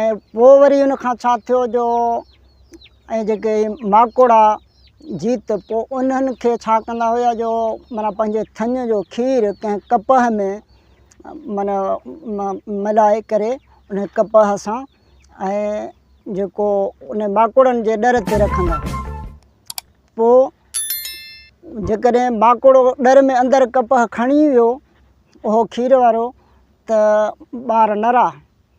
۽ پوء وري ان کان ڇا ٿيو جو ۽ جيڪي ماڪوڙا جيت پوء انهن کي ڇا ڪندا هيا جو معنيٰ پنهنجي ٿڃ جو کير ڪنهن ڪپهه ۾ معنيٰ ملائي ڪري ان ڪپهه سان ۽ جيڪو ان ماڪوڙن جي ڏر تي رکندا هيا پوء جيڪڏهن ماڪوڙو ڏر ۾ اندر ڪپهه کڻي ويو اهو کير وارو ته ٻار نرا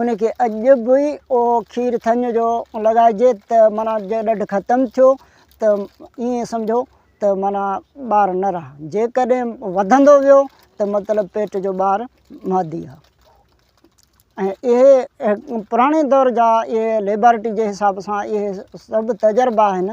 ان کي اڄ به اهو کير ٿڃ جو لڳائجي ته معنيٰ جي ڏڍ ختم ٿيو ته ائين سمجهو ته معنيٰ ٻار نر آ جيڪڏهن وڌندو ويو ته مطلب پيٽ جو ٻار مادي آ ۽ اهي پراڻي دور جا اهي ليبارٽري جي حساب سان اهي سڀ تجربا آهن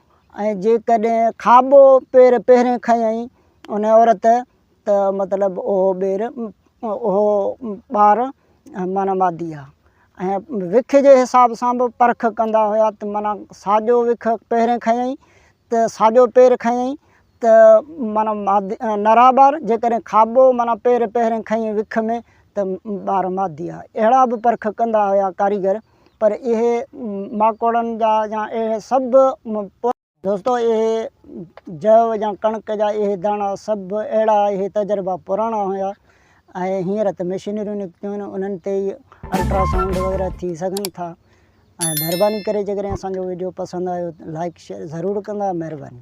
۽ جيڪڏهن کاٻو پير پهرين کنيائين ان عورت ته مطلب اهو ٻير اهو ٻار معنيٰ مادي آهي ۽ وک جي حساب سان بि پرک ڪندا هيا ته معنيٰ ساڄو وک پهرين کنيائين ته ساڄو پير کنيائين ته معنيٰ مادي نرا ٻار جيڪڏهن کاٻو معنيٰ پير پهرين کنيائين وک ۾ ته ٻار مادي آهي اهڙا بि پرک ڪندا هيا ڪاريگر پر اهي ماڪوڙن جا يا اهي سڀ. دوستو اهي جهو يا ڪڻڪ جا اهي داڻا سڀ اهڙا اهي تجربا پراڻا هيا ۽ هينئر ته مشينريون نڪتيون آهن انهن تي ئي الٽرا سائونڊ وغيره ٿي سگهن ٿا ۽ مهرباني ڪري جيڪڏهن اسان جو وڊيو پسند آيو لائڪ شيئر ضرور ڪندا مهرباني.